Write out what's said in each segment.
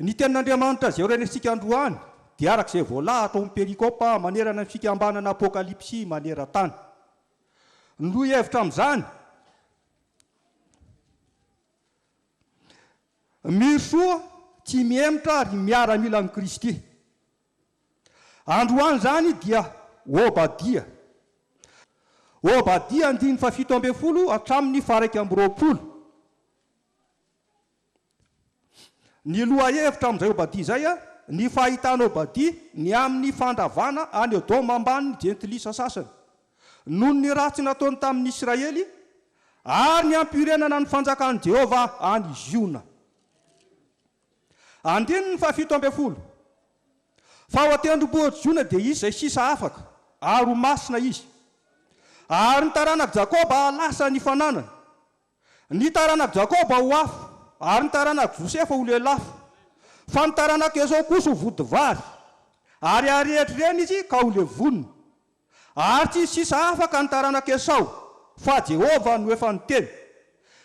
Ny Tenin'Andriamanitra izay renesintsika androany dia araka izay voalahatra ao amin'ny perikopa manerana ny fikambanana Apokalypsy maneran-tany. Ny lohihevitra amin'izany, Miro soa, tsy mihemotra ary miaramila amin'i Kristy. Androany izany dia Obadia. Obadia andininy fahafito ambin'ny folo hatramin'ny faha-iraika amby roapolo. Ny lohahevitra amin'izay Obadia izay, ny fahitan'i Obadia ny amin'ny fandravana an'i Edoma ambanin'ny jentilisa sasany, noho ny ratsy nataony tamin'ny Isiraely, ary ny hampiorenana ny Fanjakan'i Jehovah any Ziona. Andininy fahafito amby folo, Fa ao an-tendrombohitr'i Ziona dia hisy izay sisa afaka, ary ho masina izy, ary ny taranak'i Jakoba hahalasa ny fananany. Ny taranak'i Jakoba ho afo, ary ny taranak'i Josefa ho lelafo, fa ny taranak'i Esao kosa ho vody vary, ary harehatr'ireny izy ka ho levonina. Ary tsy hisy sisa afaka ny taranak'i Esao, fa Jehovah no efa niteny.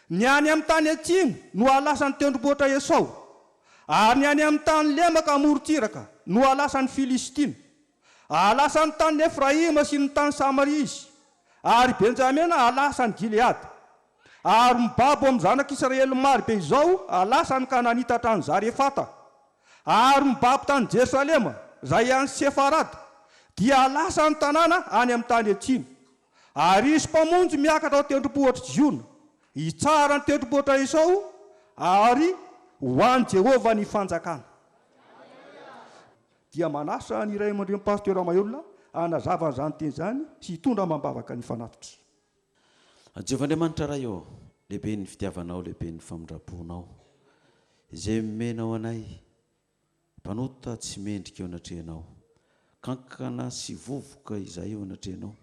Ny any amin'ny tany atsimo no halasan'ny tendrombohitr'i Esao, ary ny any amin'ny tany lemaka amorontsiraka no halasan'ny Filistina. Hahalasa ny tanin'i Efraima sy ny tany Samaria izy, ary Benjamina hahalasa an'i Gileada. Ary mibabo amin'ny zanak'Israely maro be izao hahalasa ny Kananita hatrany Zarefata. Ary mibabo tany Jerosalema, izay any Sefarada, dia hahalasa ny tanàna any amin'ny tany atsimo. Ary hisy mpamonjy miakatra ao an-tendrombohitr'i Ziona, hitsara ny tendrombohitr'i Esao, ary ho an'i Jehovah ny fanjakana. dia manasa ny iray aman-dren'ny Pasitera Mahelola hanazava an'izany teny izany sy hitondra amam-bavaka ny fanatitra. An'i Jehovah Andriamanitra Ray ô, lehibe ny fitiavanao, lehibe ny famindram-ponao, izay omenao anay mpanota tsy mendrika eo anatrehanao, kankana sy vovoka izahay eo anatrehanao,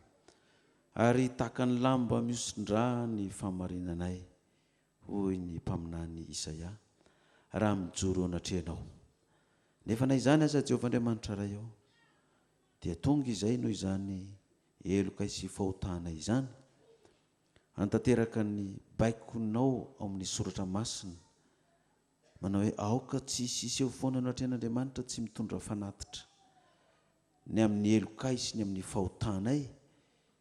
ary tahaka ny lamba mihosin-drà ny fahamarinanay. Hoy ny mpaminany Isaia, Raha mijoro eo anatrehanao, nefa na izany aza Jehovah Andriamanitra Raiao, dia tonga izay noho izany helokay sy fahotanay izany, hanatanteraka ny baikonao ao amin'ny Soratra Masina, manao hoe, Aoka tsy hisy hiseho foana eo anatrehan'Andriamanitra tsy mitondra fanatitra, ny amin'ny helokay sy ny amin'ny fahotanay,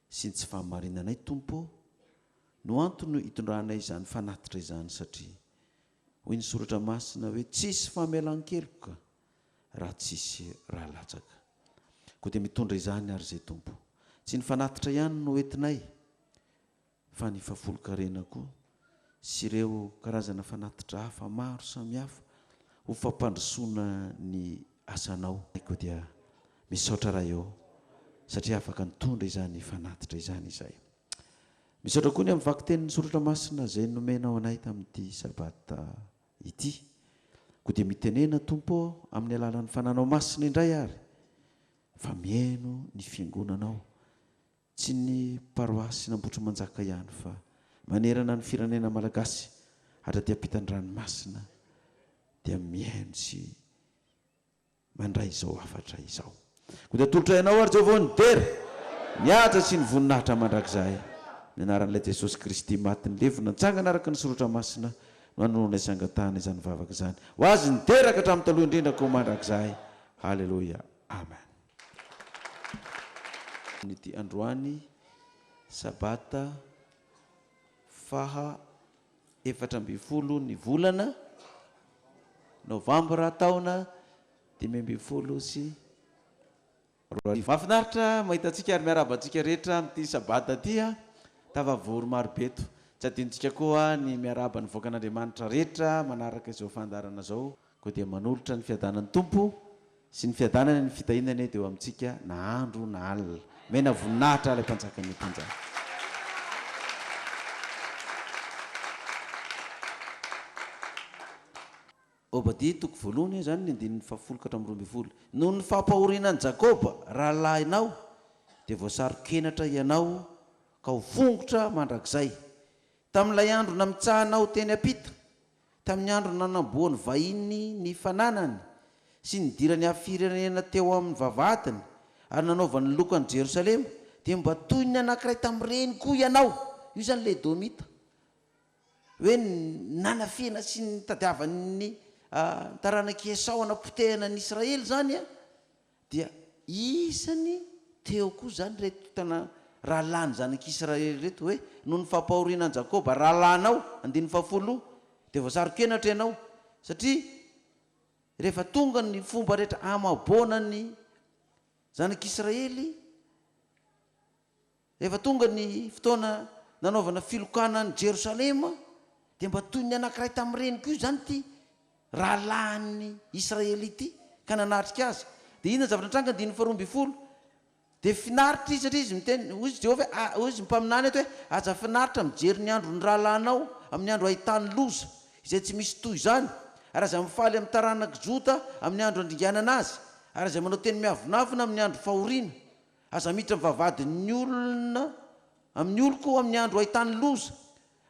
sy ny tsy fahamarinanay Tompo ô! no antony itondranay izany fanatitra izany satria hoy ny soratra masina hoe tsisy famelan-keloka raha tsisy ra latsaka koa dia mitondra izany ary izay Tompo tsy ny fanatitra ihany no entinay fa ny fafolon-karena koa sy ireo karazana fanatitra hafa maro samihafa ho fampandrosoana ny asanao. Koa dia misaotra Raio satria afaka nitondra izany fanatitra izany izahay. Misaotra koa ny amin'ny Vakitenin'ny Soratra Masina izay nomenao anay tamin'ity Sabata ity. Koa dia mitenena Tompo ô amin'ny alalan'ny Fananao Masina indray ary fa mihaino ny Fiangonanao. Tsy ny paroasin'Ambohitrimanjaka ihany fa manerana ny firenena malagasy hatraty ampitan-dranomasina dia mihaino sy mandray izao hafatra izao. Koa dia atolotra ianao ary Jehovah ny dera, ny haja sy ny voninahitra mandrakizay. Ny anaran'ilay Jesosy Kristy maty nilevina nitsangana araka ny soratra masina no anoroana sy angatahana izany vavaka izany. Ho Azy ny dera ka hatramin'ny taloha indrindra koa mandrakizay. Haleloia. Amen. Amin'ity androany sabata faha efatra ambin'ny folo ny volana novambra taona dimy ambin'ny folo sy roa arivo. Mahafinaritra mahita antsika ary miarahaba antsika rehetra amin'ity sabata ity. Tafavory marobe eto. Tsy adinontsika koa ny miarahaba ny vahoakan'Andriamanitra rehetra manaraka izao fandaharana izao. Koa dia manolotra ny fiadanan'ny Tompo sy ny fiadanany ny fitahiana anie dia eo amintsika na andro na alina. Omena voninahitra ilay Mpanjaka mitondra. Obadia toko voalohany hoe izany ny andininy fahafolo ka hatramin'ny roa ambin'ny folo. Noho ny fampahoriana an'i Jakoba rahalahinao dia voasaro-kenatra hianao ka ho fongotra mandrakizay. Tamin'ilay andro namitsahanao teny am-pita tamin'ny andro nanamboany vahiny ny fananany sy nidirany avo firenena teo amin'ny vavahadiny ary nanaovany loka an'i Jerosalema, dia mba toy ny anankiray tamin'ireny koa ianao. Io izany ilay Edomita hoe nanafihana sy nitadiavany ny taranak'i Esao hanapotehana an'i Israely izany an! Dia isany teo koa izany ireto tena rahalahy ny Zanak' Israely ireto hoe, Noho ny fampahoriana an'i Jakoba rahalahinao, andininy fahafolo, dia voasaro-kenatra ianao, satria rehefa tonga ny fomba rehetra hamaboana ny Zanak' Israely, Rehefa tonga ny fotoana nanaovana filokana an'i Jerosalema, dia mba toy ny anankiray tamin'ny reniny koa izany ity rahalahin'ny Israely ity, ka nanatrika azy. Dia inona ny zavatra nitranga? Andininy faharoa ambin'ny folo, Dia finaritra izy, satria izy miteny, hoy Jehovah, hoy izy mpaminany eto hoe, Aza finaritra mijery ny andron'ny rahalahinao, amin'ny andro ahitany loza, izay tsy misy toy izany, ary aza mifaly amin'ny taranak'i Joda amin'ny andro andringanana azy, ary aza manao teny miavonavona amin'ny andro fahoriana, Aza miditra amin'ny vavahadin'ny olona amin'ny oloko amin'ny andro ahitany loza.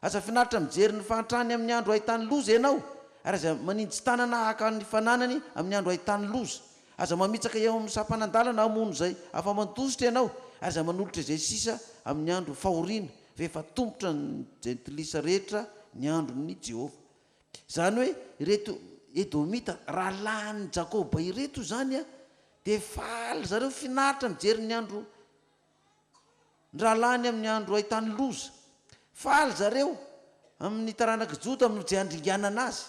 Aza finaritra mijery ny fahantrany amin'ny andro ahitany loza ianao, ary aza maninjy tanana haka ny fananany amin'ny andro ahitany loza. Aza mamitsaka eo amin'ny sampanan-dalana hamono izay afa-mandositra ianao, ary aza manolotra izay sisa amin'ny andro fahoriana, fa efa tombotra ny jentilisa rehetra ny andron'i Jehovah. Izany hoe ireto Edomita rahalahin'i Jakoba ireto izany Dia faly zareo finaritra mijery ny andro ny rahalahiny amin'ny andro ahitany loza. Faly zareo amin'ny taranak'i Joda amin'io izay handringanana azy.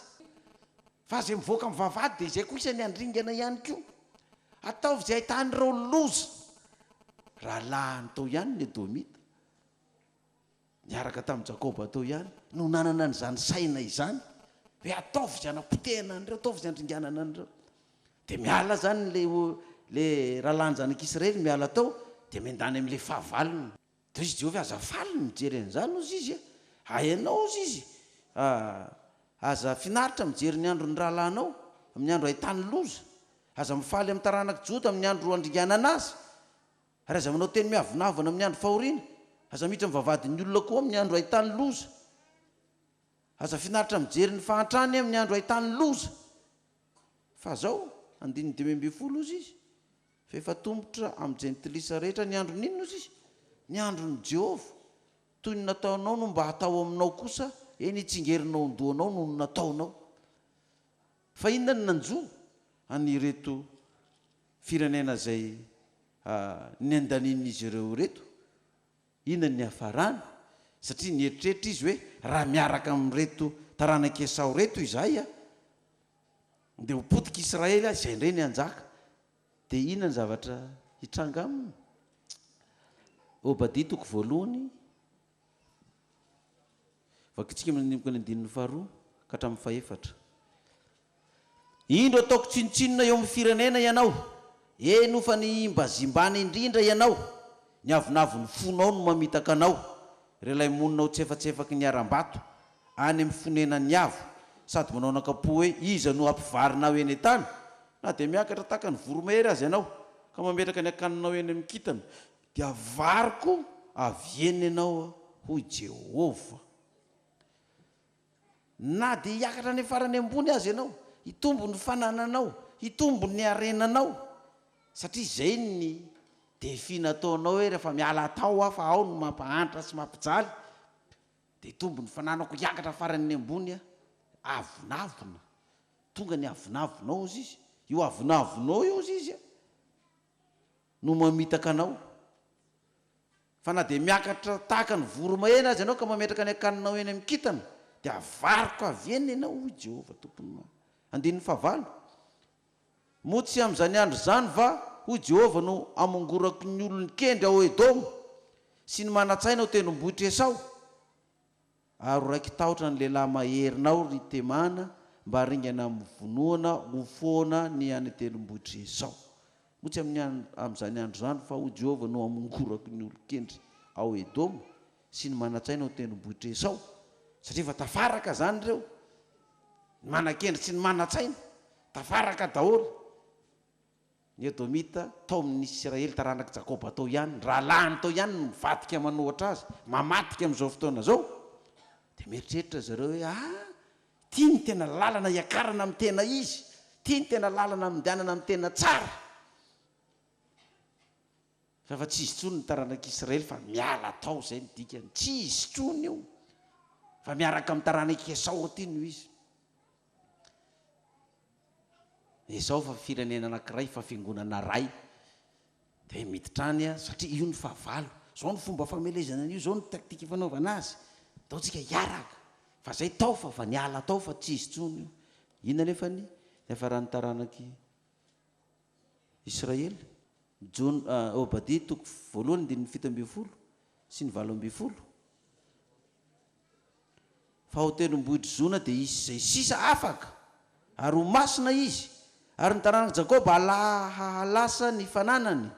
Fa izay mivoaka amin'ny vavahady dia izay koa isany handringana ihany koa. Ataovy izay ahitany ireo loza. Rahalahiny tao ihany ny Edomita. Niaraka tamin'i Jakoba tao ihany no nanana an'izany saina izany hoe ataovy izay hanapotehana an'ireo, ataovy izay handringanana an'ireo. Dia miala izany ilay ilay rahalahin'ny zanak'Israely miala tao dia miandany amin'ilay fahavalony. Dia hoy izy Jehovah, Aza faly ny mijery an'izany hozy izy a! Hay anao hozy izy a! Aza finaritra mijery ny andron'ny rahalahinao, amin'ny andro ahitany loza. Aza mifaly amin'ny taranak'i Joda amin'ny andro handringanana azy. Ary aza manao teny miavonavona amin'ny andro fahoriana, aza miditra amin'ny vavahadin'ny olona koa amin'ny andro ahitany loza. Aza finaritra mijery ny fahantrany amin'ny andro ahitany loza. Fa zao, andininy dimy ambin'ny folo ozy izy, fa efa tombotra amin'ny jentilisa rehetra ny andron' inona ozy izy? Ny andron'i Jehovah. Toy ny nataonao no mba hatao aminao kosa, eny, hitsingerinao ny dohanao noho ny nataonao. Fa inona no nanjo an' ireto firenena izay niandanin' izy ireo ireto? Inona no niafarany? Satria nieritreritra izy hoe, Raha miaraka amin' ireto taranak' i Esao ireto izahay, dia ho potik' Israely aho, izay indray ny hanjaka. Dia inona ny zavatra hitranga aminy? Obadia toko voalohany. Vakitsika manomboka ny andininy faharoa ka hatramin'ny fahefatra. Indro ataoko tsinontsinona eo amin'ny firenena ianao, eny ho fa nihimbazimbana indrindra ianao, ny avonavon'ny fonao no mamitaka anao, ry ilay monina ho tsefatsefaky ny harambato any amin'ny fonenan'ny avo, sady manao anakam-po hoe iza no hampivarina ahy ho eny an-tany? Na dia miakatra tahaka ny voromahery aza ianao, ka mametraka ny akaninao eny amin'ny kintana, Dia variko avy eny ianao, hoy Jehovah. Na dia hiakatra any farany ambony aza ianao, hitombo ny fanananao, hitombo ny harenanao, satria izay ny défi nataonao hoe rehefa miala tao aho fa ao no mampahantra sy mampijaly, dia hitombo ny fananako, hiakatra farany ambony aho. Avonavona. Tonga ny avonavonao, hozy Izy. Io avonavonao io, hozy Izy, no mamitaka anao. Fa na dia miakatra tahaka ny voromahery aza ianao ka mametraka ny akaninao eny amin'ny kintana, dia havariko avy eny ianao, hoy Jehovah Tompon'ny maha. Andininy fahavalo. Moa tsy amin'izany andro izany va, hoy Jehovah, no hamongorako ny olon-kendry ao Edoma, sy ny manan-tsaina ao tendrombohitr'i Esao? Ary ho raiki-tahotra ny lehilahy maherinao, ry Temàna, mba haringana amin'ny vonoana ho foana ny any an-tendrombohitr'i Esao. Moa tsy amin'ny andro, amin'izany andro izany, fa hoy Jehovah no hamongorako ny olon-kendry ao Edoma sy ny manan-tsaina ao an-tendrombohitr'i Esao, satria efa tafaraka izany ireo, ny manan-kendry sy ny manan-tsaina, tafaraka daholo. Ny Edomita tao amin' ny Isiraely taranak' i Jakoba tao ihany, ny rahalahiny tao ihany no mivadika manohatra azy, mamadika amin' izao fotoana izao. Dia mieritreritra ry zareo hoe, Ah! Ity no tena lalana iakarana amin' ny tena izy! Ity no tena lalana amindehanana amin' ny tena tsara! Fa efa tsy izy intsony ny taranak' i Isiraely fa miala tao, izay no dikany. Tsy izy intsony io, fa miaraka amin' ny taranak' i Esao aty no izy. Ezao fa firenena anakiray fa fiangonana ray de miditra any a satria io no fahavalo zao no fomba famelezana an'io zao no tactique fanaovana azy ataontsika hiaraka fa zay tao fa fa niala tao fa tsy izy tsony io inona nefa ny niafaran'ny taranaky Israely Jon Obadia toko voalohany andininy fito ambin'ny folo sy ny valo ambin'ny folo Fa ho teny Ambohidrizona dia hisy izay sisa afaka, ary ho masina izy, ary ny taranak'i Jakoba hahalasa ny fananany,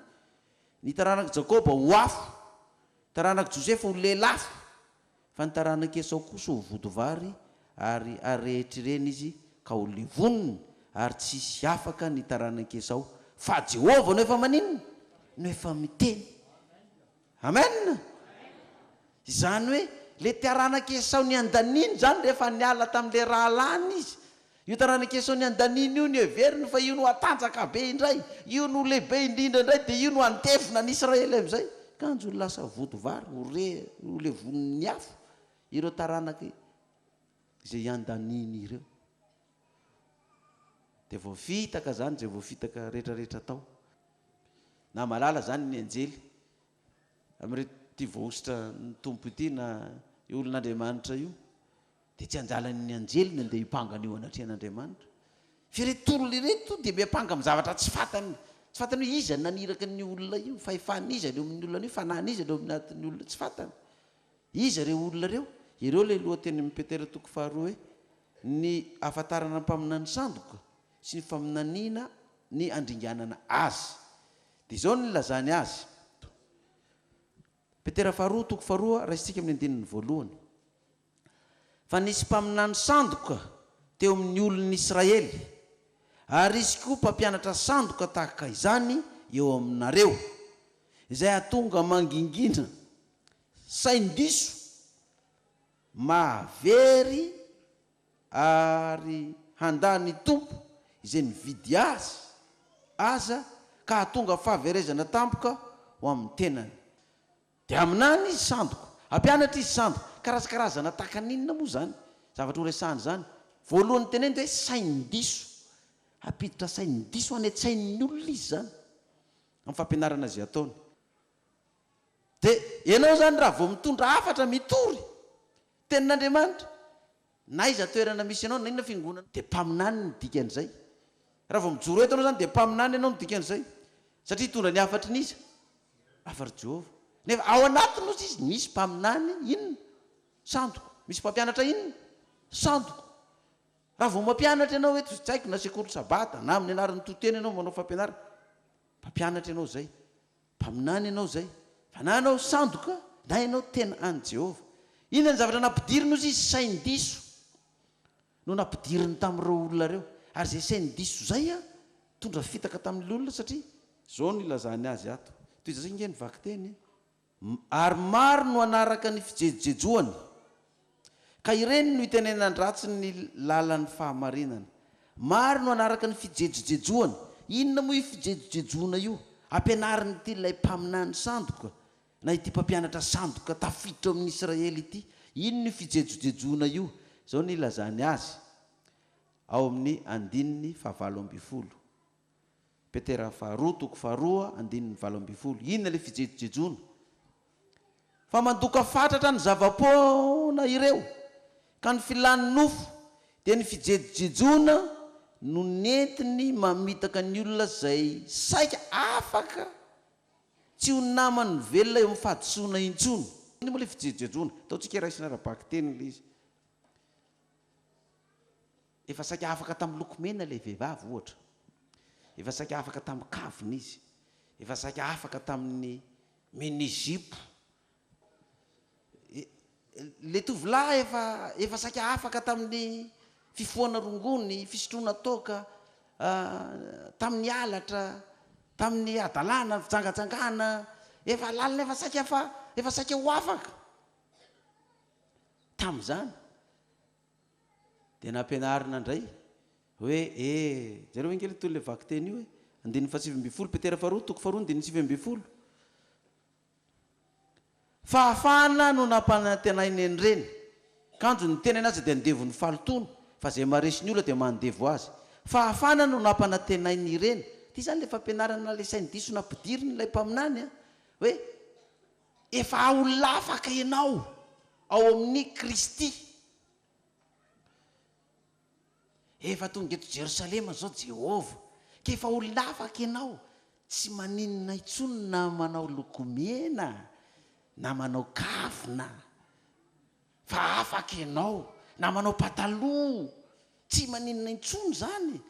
ny taranak'i Jakoba ho afo, ny taranak'i Josefa ho lelafo, fa ny taranak'i Esao kosa ho vodivary, ary harehitrerena izy ka ho levonina, ary tsy hisy afaka ny taranak'i Esao, fa Jehovah no efa maninona? No efa miteny. Amen! Izany hoe ilay taranak'i Esao niandaniana izany rehefa niala tamin'ilay rahalahiny izy. Io taranak'i Esao niandaniana io no heveriny fa io no hatanjaka be indray, io no ho lehibe indrindra indray dia io no handevina an'i Israely amin'izay. Kanjo ho lasa vody vary ho re, ho levonin'ny afo ireo taranaka izay iandaniany ireo. Dia voafitaka izany izay voafitaka rehetrarehetra tao. na malala zany ny anjely amreo ty voahosotra ny tompo ity na io olon'Andriamanitra io de tsy anjalany ny anjely ny andeha hipanga an'io anatrehan'Andriamanitra fa ireto olona ireto de miampanga amin'ny zavatra tsy fatany tsy fatany hoe iza naniraka ny olona io fahefan'iza leo amin'ny olona io fanan'iza leo amin'ny atin'ny olona tsy fatany iza reo olona reo ireo le loha teny amin'ny petera toko faharoa hoe ny afantarana mpaminany sandoka sy ny faminaniana ny handringanana Azy. Dia izao no nilazany Azy, to. Petera faharoa toko faharoa, raisintsika amin'ny andininy voalohany, Fa nisy mpaminany sandoka teo amin'ny olon'ny Israely, ary hisy koa mpampianatra sandoka tahaka izany eo aminareo, izay hahatonga mangingina, sain-diso, mahavery, ary handà ny Tompo izay nividy azy aza ka hahatonga fahaverezana tampoka ho amin'ny tenany. Dia haminany izy sandoka, hampianatra izy sandoka. Karazakarazana tahaka ny inona moa izany zavatra horesahana izany? Voalohany teneniny dia hoe sain-diso. Hampiditra sain-diso any an-tsain'ny olona izy izany amin'ny fampianarana izay ataony. Dia ianao izany raha vao mitondra hafatra mitory tenin'Andriamanitra, na iza toerana misy anao, na inona fiangonana, dia mpaminany ny dikan'izay, raha vao mijoro eto ianao izany dia mpaminany ianao ny dikan'izay, satria hitondra ny hafatry ny iza? Hafatr'i Jehovah. Nefa ao anatiny osa izy misy mpaminany inona? Sandoko. Misy mpampianatra inona? Sandoko. Raha vao mampianatra ianao eto tsy haiko na sekoly sabata na amin'ny anaran'ny toriteny ianao manao fampianarana, mpampianatra ianao izay. Mpaminany ianao izay, fa na ianao sandoka na ianao tena an'i Jehovah. Inona no zavatra nampidiriny hozy izy? Sain-diso no nampidiriny tamin'ireo olona ireo. Ary izay sain-diso izay nitondra fitaka tamin'ny loholona, satria izao no ilazany azy ato, toy izao ange ny vakiteny, Ary maro no hanaraka ny fijejojejoany. Ka ireny no itenenan-dratsy ny lalan'ny fahamarinana. Maro no hanaraka ny fijejojejoany. Inona moa io fijejojejoana io? Ampianarin'ity ilay mpaminany sandoka, na ity mpampianatra sandoka tafiditra ao amin'ny Israely ity. Inona io fijejojejoana io? Izao ny ilazany azy ao amin'ny andininy fahavalo ambin'ny folo. Petera faharoa toko faharoa andininy valo ambin'ny folo. Inona ilay fijejojejoana? Fa mandoka fatratra ny zava-poana ireo, ka ny filàny nofo, dia ny fijejojejoana no nentiny mamitaka ny olona izay saika afaka tsy ho namany velona eo amin'ny fahadisoana intsony. Inona moa ilay fijejojejoana? Ataontsika iraisana ara-bakiteny ilay izy. Efa saika afaka tamin'ny lokomena ilay vehivavy, ohatra. Efa saika afaka tamin'ny kavina izy. Efa saika afaka tamin'ny mini-zipo. Ilay tovolahy efa, efa saika afaka tamin'ny fifohana rongony, fisotroana toaka, tamin'ny halatra, tamin'ny hadalana, fijangajangana. Efa lalina, efa saika, efa, efa saika ho afaka tamin'izany. Dia nampianarina indray hoe e, jereo ve kely tolona vakiteny io e, andininy fahasivy ambin'ny folo, Petera faharoa, toko faharoa, andininy sivy ambin'ny folo. Fahafahana no nampanantenainy an'ireny. Kanjo ny tenany aza dia andevo ny fahalotoana, fa izay maharesy ny olona dia mandevo azy. Fahafahana no nampanantenainy ireny. Ity izany ilay fampianarana ilay sain-diso nampidiriny ilay mpaminany hoe Efa olona afaka ianao ao amin'i Kristy. Efa tonga eto Jerosalema izao Jehovah, ka efa olona afaka ianao, tsy maninona intsony na manao lokomena na manao kavina, fa afaka ianao, na manao pataloha, tsy maninona intsony izany.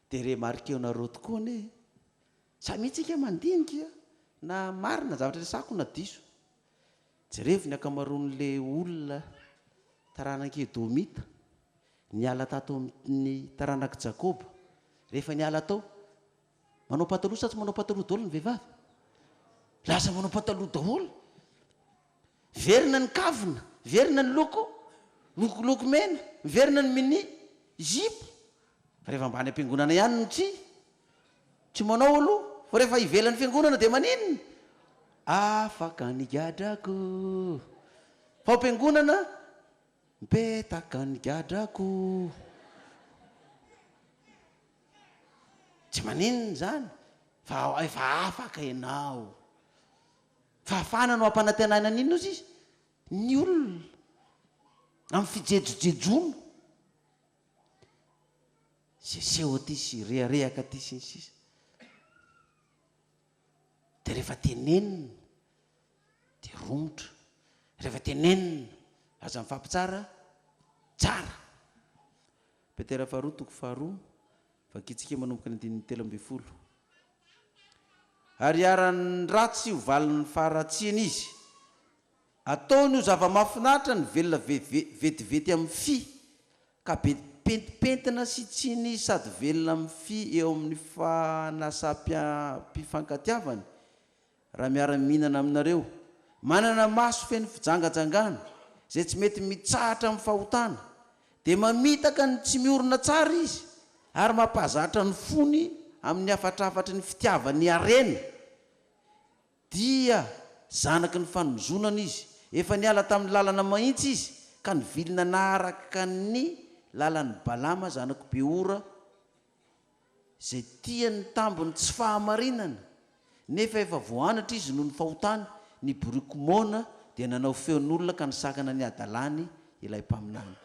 Dia remarqueo nareo tokoa anie e! Samia tsika mandinika na marina ny zavatra resako na diso. Jerevo ny ankamaroan'le olona taranak'i Edomita niala tato amin'ny taranak'i Jakoba. Rehefa niala tao, manao pataloha sa tsy manao pataloha daholo ny vehivavy? Lasa manao pataloha daholo. Miverina ny kavina, miverina ny loko, loko loko mena, miverina ny mini zipo. Rehefa ambany ampiangonana ihany no tsy tsy manao aloha fa rehefa ivelan'ny fiangonana dia maninona? Afaka ny gadrako fa ao am-piangonana mipetaka ny gadrako. Tsy maninona izany fa efa afaka ianao. Fahafahana no ampanantenana an' inona ozy izy? Ny olona, amin'ny fijejojejoana izay seho aty sy reharehaka aty sy ny sisa. Dia rehefa tenenina dia romotra, rehefa tenenina aza mifampitsara tsara. Petera faharoa toko faharoa, vakitsika manomboka ny andininy telo ambin'ny folo. Ary iharan'ny ratsy ho valin'ny faharatsiana izy. Ataony ho zava-mahafinaritra ny velona vetivety amin'ny fy, ka be pentimpentina sy tsiny sady velona amin'ny fy eo amin'ny fanasam-pifankatiavany. Raha miara-mihinana aminareo, manana maso feno fijangajangana, izay tsy mety mitsahatra amin'ny fahotana, dia mamitaka ny tsy miorina tsara izy, ary mampahazatra ny fony amin'ny hafatrafatry ny fitiavany harena, dia zanaky ny fanozonana izy, efa niala tamin'ny lalana mahintsy izy, ka nivily nanaraka ny lalan'i Balama zanak'i Beora, izay tian'ny tambiny tsy fahamarinana, nefa efa voanatra izy noho ny fahotany, ny boriky moana dia nanao feon'olona ka nisakana ny hadalany ilay mpaminany.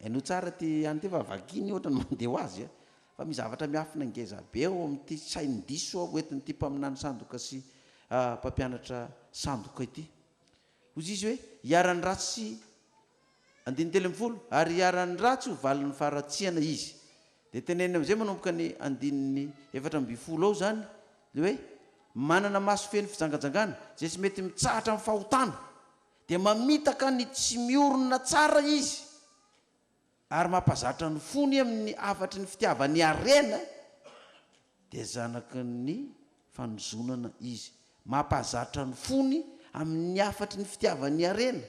Hainao tsara ity any ity fa vakiny ohatra ny mandeha ho azy a! Fa misy zavatra miafina ngeza be ao amin'ity sainy diso ao entin'ity mpaminany sandoka sy mpampianatra sandoka ity. Hoy izy hoe, Iharan'ny ratsy Andininy telo ambin'ny folo, Ary hiharan'ny ratsy ho valin'ny faharatsiana izy. Dia teneniny amin'izay manomboka ny andininy efatra ambin'ny folo ao izany ilay hoe, Manana maso feno fijangajangana, izay tsy mety mitsahatra ny fahotana, dia mamitaka ny tsy miorina tsara izy, ary mampazatra ny fony amin'ny hafatry ny fitiavany harena, dia zanaky ny fanozonana izy, mampazatra ny fony amin'ny hafatry ny fitiavany harena,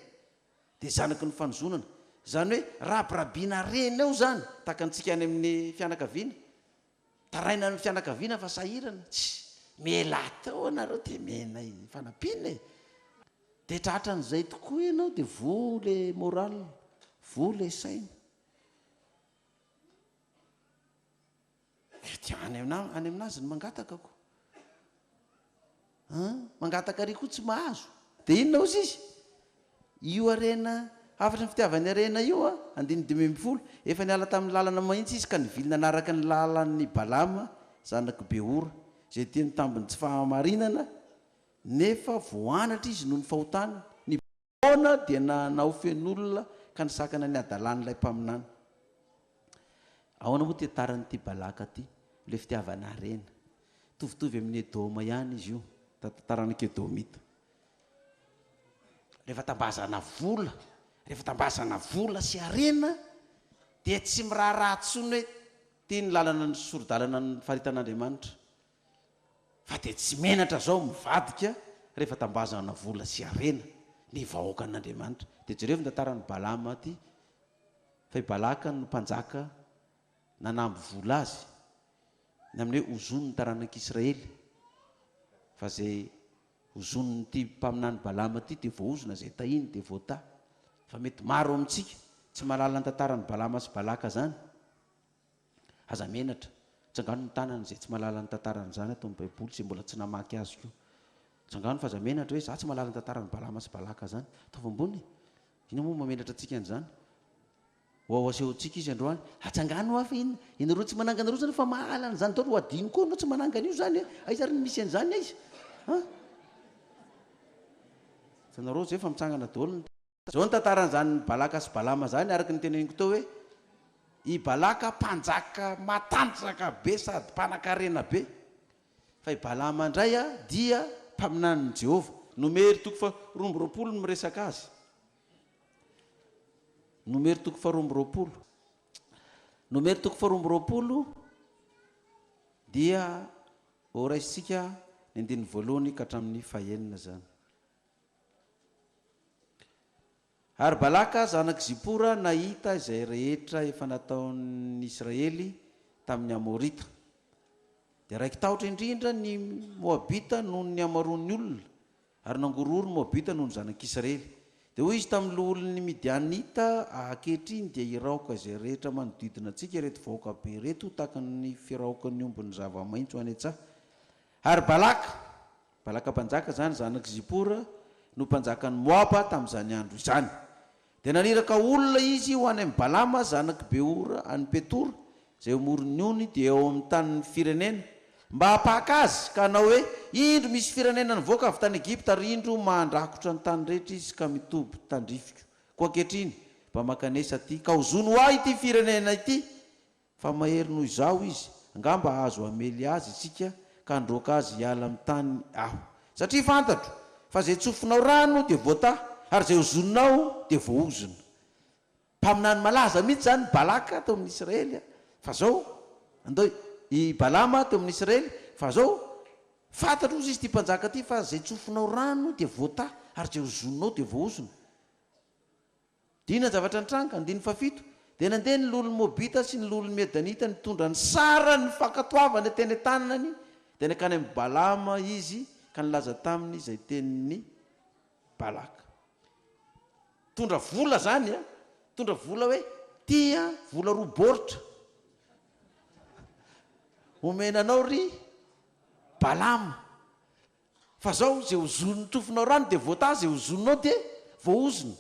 dia zanaky ny fanozonana. Izany hoe rabirabiana reny ao izany, tahaka antsika any amin'ny fianakaviana. Taraina any amin'ny fianakaviana fa sahirana, tsy miela teo ianareo dia omena fanampiana e! Dia tratran'izay tokoa ianao dia voa ilay morale, voa ilay saina. Mety any any aminazy ny mangataka ko. An, mangataka ary koa tsy mahazo. Dia inona ozy izy? Io harena, hafatry ny fitiavany harena io an, andininy dimy ambin'ny folo, efa niala tamin'ny lalana mahintsy izy ka nivily nanaraka ny lalan'ny Balama zanak'i Beora, izay dia ny tambin'ny tsy fahamarinana, nefa voanatra izy noho ny fahotany, ny. Taona dia nanao feno olona ka nisakana ny hadalan'ilay mpaminany. Ahoana moa ity tantaran'ity Balaka ity? Ilay fitiavana harena. Mitovitovy amin'i Edoma ihany izy io, taranak'i Edomita. Rehefa tambazana vola, rehefa tambazana vola sy harena dia tsy miraharaha intsony hoe ity ny lalana, ny sori-dalana faritan'Andriamanitra. fa dia tsy menatra zao mivadika rehefa tambazana vola sy harena ny vahoakan'Andriamanitra. Dia jereo ny tantaran'i Balama ty fa i Balaka no mpanjaka nanamby vola azy ny amin'ny hoe ozonin'ny taranak'Israely fa zay ozonin'ity mpaminany Balama ty dia voaozona zay tahiny dia voata fa mety maro amintsika tsy mahalala ny tantaran'i Balama sy Balaka zany. Aza menatra. Tsangano ny tanana izay tsy mahalala ny tantaran'izany ato amin'ny Baiboly, izay mbola tsy namaky azy koa. Tsangano fa aza menatra hoe, izaho tsy mahalala ny tantaran'i Balama sy Balaka izany. Ataovy ambony e! Inona moa no mahamenatra antsika an'izany? Ho'aho asehontsika izy androany. Atsangano hoa fa inona? Ianareo tsy manangana ireo izany efa mahalana an'izany daholo, ho adino koa ianao tsy manangana io izany e! Aiza ary ny misy an'izany? Aiza? An? Hitanareo izay fa mitsangana daholo ny. Izao ny tantaran'izany Balaka sy Balama izany, araka ny teneniko teo hoe, i Balaka mpanjaka matanjaka be sady mpanankarena be, fa i Balama indray dia mpaminanin'i Jehovah. Nomer toko faharoa amby roapolo no miresaka azy. Nomer toko faharoa amby roapolo. Nomer toko faharoa amby roapolo dia horaisintsika ny andininy voalohany ka hatramin'ny fahenina izany. Ary Balaka zanak'i Zipora nahita izay rehetra efa nataon'ny Israely tamin'ny Amorita, dia raiki-tahotra indrindra ny Moabita noho ny hamaroan'ny olona, ary nangorohoro ny Moabita noho ny zanak'Israely. Dia hoy izy tamin'ny loholon'ny Midianita, Ankehitriny dia hiraoka izay rehetra manodidina antsika ireto vahoaka be ireto ho tahaka ny firaokan'ny omby ny zava-maitso any an-tsaha. Ary Balaka. Balaka mpanjaka izany, zanak'i Zipora, no mpanjakan'i Moaba tamin'izany andro izany. Dia naniraka olona izy ho any amin'i Balama zanak'i Beora any Petora, izay eo amoron'ny ony, dia eo amin'ny tanin'ny firenena, mba hampaka azy, ka hanao hoe, Indro misy firenena nivoaka avy tany Egypta, ary indro mandrakotra ny tany rehetra izy ka mitoby tandrifiko. Koa ankehitriny, mba mankanesa aty, ka hozono ho ahy ity firenena ity. Fa mahery noho izaho izy, angamba hahazo hamely azy isika ka handroaka azy hiala amin'ny tany aho. Satria fantatro fa izay tsofinao rano dia voataha, ary izay ozoninao dia voaozona. Mpaminany malaza mihitsy izany i Balaka teo amin'ny Israely, fa izao, andao, i Balama teo amin'ny Israely, fa izao, fantatro, hoy izy, ity mpanjaka ity, fa izay tsofinao rano dia voataha, ary izay ozoninao dia voaozona. Dina ny zavatra nitranga, andininy fahafito, Dia nandeha ny loholon'ny Moabita sy ny loholon'ny Miadanita nitondra ny saran'ny fankatoavana teny an-tanany, dia nankany amin'i Balama izy ka nilaza taminy izay tenin'i Balaka. Nitondra vola izany an! Nitondra vola hoe ity an, vola roa baoritra omena anao ry Balama. Fa zao ze ozonin'ny tofonao rano de voataha ze ozoninao de voaozona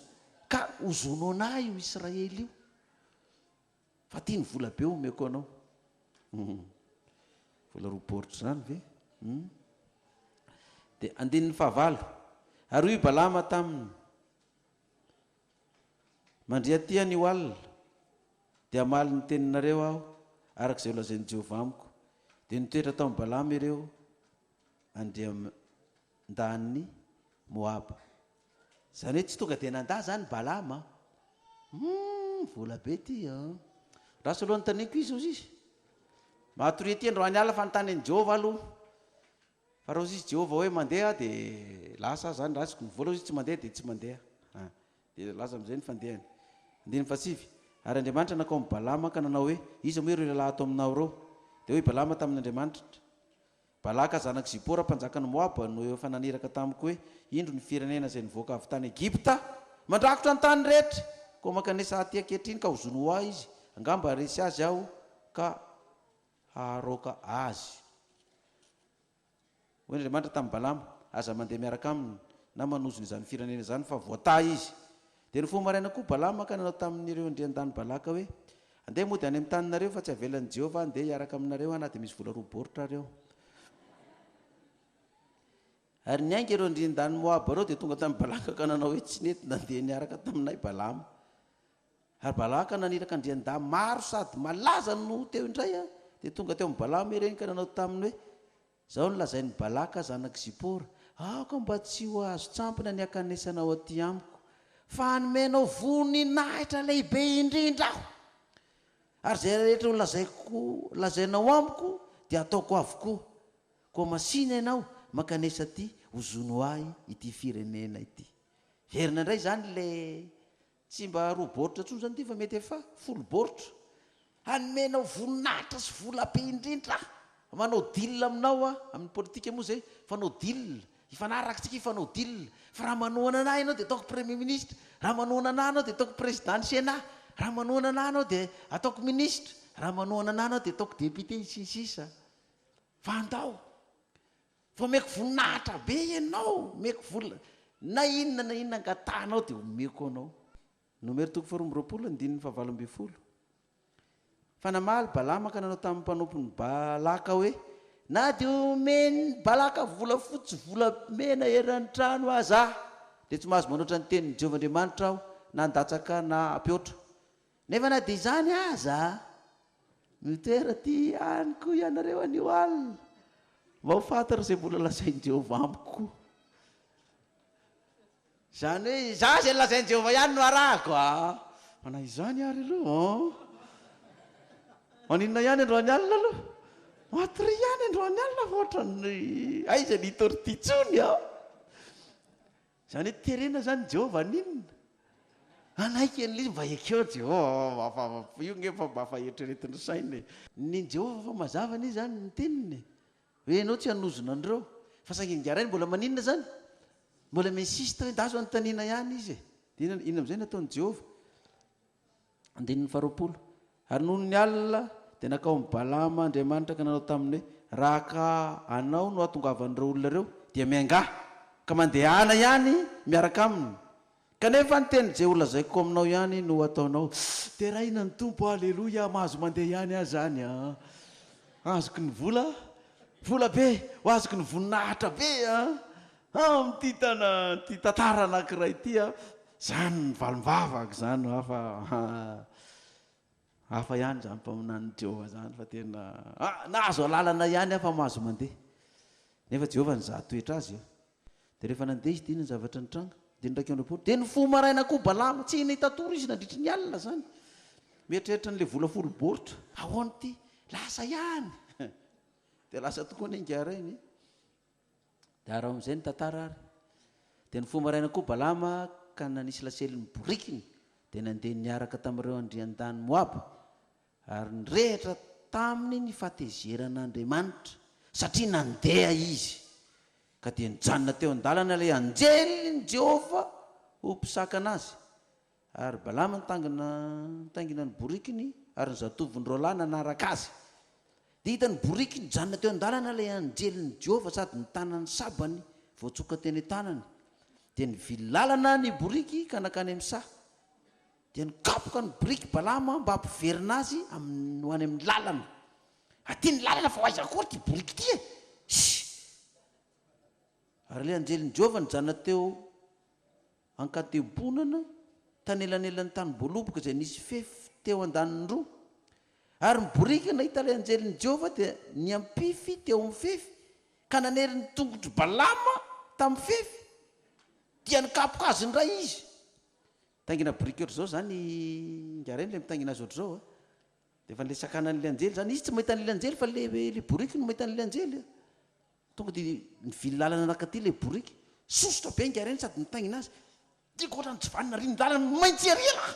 ka ozono anah io Israely io fa ty ny vola be omeko anao hum vola roa baoritra zany ve hum de andininy fahavalo ary hoy Balama taminy mandria aty anio alina de hamaly ny teninareo aho araka izay holazain'i Jehovah amiko dia nitoetra tao amin'i Balama ireo andriamindanin'i Moaba. Izany hoe tsy tonga dia nandà izany Balama a! Humm! Vola be ity a! Raha solo anontaniako izy hozy izy, mahatoria aty androany alina fa anontany an'i Jehovah aloha. Fa raha hozy izy Jehovah hoe mandeha dia lasa aho izany, raisiko ny vola hozy izy tsy mandeha dia tsy mandeha a! Dia lasa amin'izay ny fandehany. Andininy fahasivy, Ary Andriamanitra nakao amin'i Balama ka nanao hoe, Iza moa ireo lehilahy ato aminao ireo? Dia hoy Balama tamin'Andriamanitra, Balaka zanak'i Zipora mpanjakan'i Moaba no efa naniraka tamiko hoe, Indro ny firenena izay nivoaka avy tany Egypta mandrakotra ny tany rehetra! Koa mankanesa aty ankehitriny ka hozono ho ahy izy, angamba haharesy azy aho ka haharoaka azy. Hoy Andriamanitra tamin'i Balama, Aza mandeha miaraka aminy na manozona izany firenena izany fa voatahy izy. Dia nifoha maraina koa Balama ka nanao tamin'ireo indrian-tany Balaka hoe, Andeha mody any amin'ny taninareo fa tsy havelan'i Jehovah handeha hiaraka aminareo aho na dia misy vola roa baoritra ary ao. Ary niainga ireo indrian-tany Moaba ireo dia tonga tamin'i Balaka ka nanao hoe, Tsy nety nandeha niaraka taminay Balama. Ary Balaka naniraka andrian-dahy maro sady malaza no teo indray dia tonga teo amin'i Balama ireny ka nanao taminy hoe, Izao no lazain'i Balaka zanak'i Zipora, Aoka mba tsy ho azo tsampina ny hakanesanao atỳ amiko, fa hanome anao voninahitra lehibe indrindra aho, ary izay rehetra holazaiko lazainao amiko dia hataoko avokoa. Koa masìna ianao mankanesa atỳ, hozono ho ahy ity firenena ity. Heverina indray izany ilay Tsy mba roa baoritra intsony zany ity fa mety efa folo baoritra. Hanome anao voninahitra sy vola be indrindra aho. Manao deal aminao aho, amin'ny politika moa izay, fanao deal. Hifanaraka tsika hifanao deal. Fa raha manohana anah ianao dia ataoko premier ministre. Raha manohana anah anao dia ataoko président ny senat. Raha manohana anah anao dia ataoko ministre. Raha manohana anah anao dia ataoko député sy ny sisa. Fa andao. Fa omeko voninahitra be ianao, omeko vola, na inona na inona angatahanao dia omeko anao. Nomer toko faharoa amby roapolo andininy fahavalo ambin'ny folo Fa namaly Balama ka nanao tamin'ny mpanompony Balaka hoe, Na dia omen'i Balaka volafotsy sy volamena eran'ny trano aza aho, dia tsy mahazo manoatra ny tenin'i Jehovah Andriamanitra aho, na handatsaka na hampihoatra. Nefa na dia izany aza, mitoera aty ihany koa ianareo anio alina, mba ho fantatra izay mbola lazain'i Jehovah amiko koa. Izany hoe izaho izay nolazain'i Jehovah ihany no arahako an! Fa na izany àry aloha an! Maninona ihany androany alina aloha? Matoria ihany androany alina fa hoatran'ny hay izay nitory ity intsony an! Izany hoe terena izany i Jehovah haninona? Hanaiky an'ilay izy mba ekeo Jehovah. Io ange efa mba afa eritreretin'ny saina e. Neny Jehovah fa mazava anie izany ny teniny e. Hoe ianao tsy hanozona an'ireo. Fa saingy nigarainy mbola maninona izany? Mbola mi-insiste hoe ndaso anontaniana ihany izy e. Dia inona amin'izay nataon'i Jehovah? Andininy faharoapolo, Ary nony ny alina, dia nankao amin'i Balama Andriamanitra ka nanao taminy hoe, Raha ka Anao no ahatongavan'ireo olona ireo, dia miangaha, ka mandehana ihany miaraka aminy, kanefa ny teny izay holazaiko aminao ihany no hataonao. Deraina ny Tompo, Aleloia, mahazo mandeha ihany aho izany an! Azoko ny vola, vola be, ho azoko ny voninahitra be an! Amin'ity tana ity tantara anankiray ity a, zany ny valim-bavaka izany hafa a, hafa ihany izany mpaminanin'i Jehovah izany fa tena a, nahazo alalana ihany aho fa mahazo mandeha, nefa Jehovah nizaha toetra azy eo, dia rehefa nandeha izy dia iny ny zavatra nitranga, andininy iraika amby roapolo, dia nifoha maraina koa Balama, tsy nitatory izy nandritry ny alina izany, mieritreritra an'ilay vola folo baoritra, ahoana ity, lasa ihany, dia lasa tokoa anie ingahy Ray ny. Dia arao amin'izay ny tantara ary. Dia nifoha maraina koa Balama ka nanisy lasely ny borikiny, dia nandeha niaraka tamin'ireo andriandan'i Moaba, ary nirehitra taminy ny fahatezeran'Andriamanitra, satria nandeha izy. Ka dia nijanona teo an-dalana ilay anjelin'i Jehovah ho mpisakana azy. Ary Balama nitangina nitaingina ny borikiny, ary ny zatovon'i Rola nanaraka azy. Dia hita ny boriky nijanona teo an-dalana ilay anjelin'i Jehovah sady ny tanan'ny sabany voatsoka teny an-tanany. Dia nivily lalana ny boriky ka nankany amin'ny saha. Dia nikapoka ny boriky Balama mba hampiverina azy amin'ny ho any amin'ny lalana. Aty ny lalana fa ho aiza akory ity boriky ity e! Shh! Ary ilay anjelin'i Jehovah nijanona teo. Ankadebonana, tanelanelan'ny tanim-boaloboka izay nisy fefy teo an-daniny roa. Ary ny boriky nahita ilay anjelin'i Jehovah dia niampify teo amin'ny fefy, ka nanery ny tongotr'i Balama tamin'ny fefy, dia nikapoka azy indray izy. Mitaingina boriky ohatr'izao izany i Ingaregny, ilay mitaingina azy ohatr'izao an! Dia efa an'ilay sakanan'ilay anjely izany. Izy tsy mahita an'ilay anjely fa ilay boriky no mahita an'ilay anjely an! Tonga dia nivily lalana naka ty ilay borika. Sosotra be ingahy ireny sady nitaingina azy. Tiako ohatran'ny tsy vanona ry ny lalana no main tsy ery ialahy.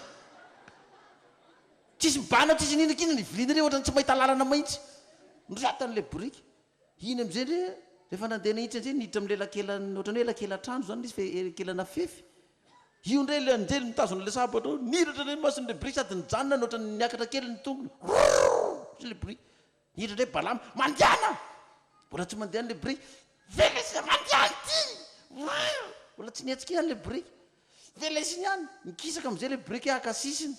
Tsisy mibahana tsisy inona k'inona niviliana ry ohatran'ny tsy mahita lalana mahintsy. Norehatany ilay borika. Iny amin'izay indray rehefa nandeha nahitsy an'izay niditra amin'ny lelakelan'ny ohatran'ny hoe elakelan-trano izany ilay izy fa elakelana fefy. Io indray ilay anjely nitazona ilay sahabo hatao hoe niratra indray ny mason'ilay borika sady nijanona ny ohatran'ny niakatra kely ny tongony. Rrrrrrrrr! Hoy ilay borika. Indro indray Balama, Mandehana! Mbola tsy mandehana ilay biriky. Vela izy izay mandehana ity! Rrrr! Mbola tsy nihetsika ihany ilay biriky. Vela izy ihany! Nikisaka amin'izay ilay biriky haka sisiny.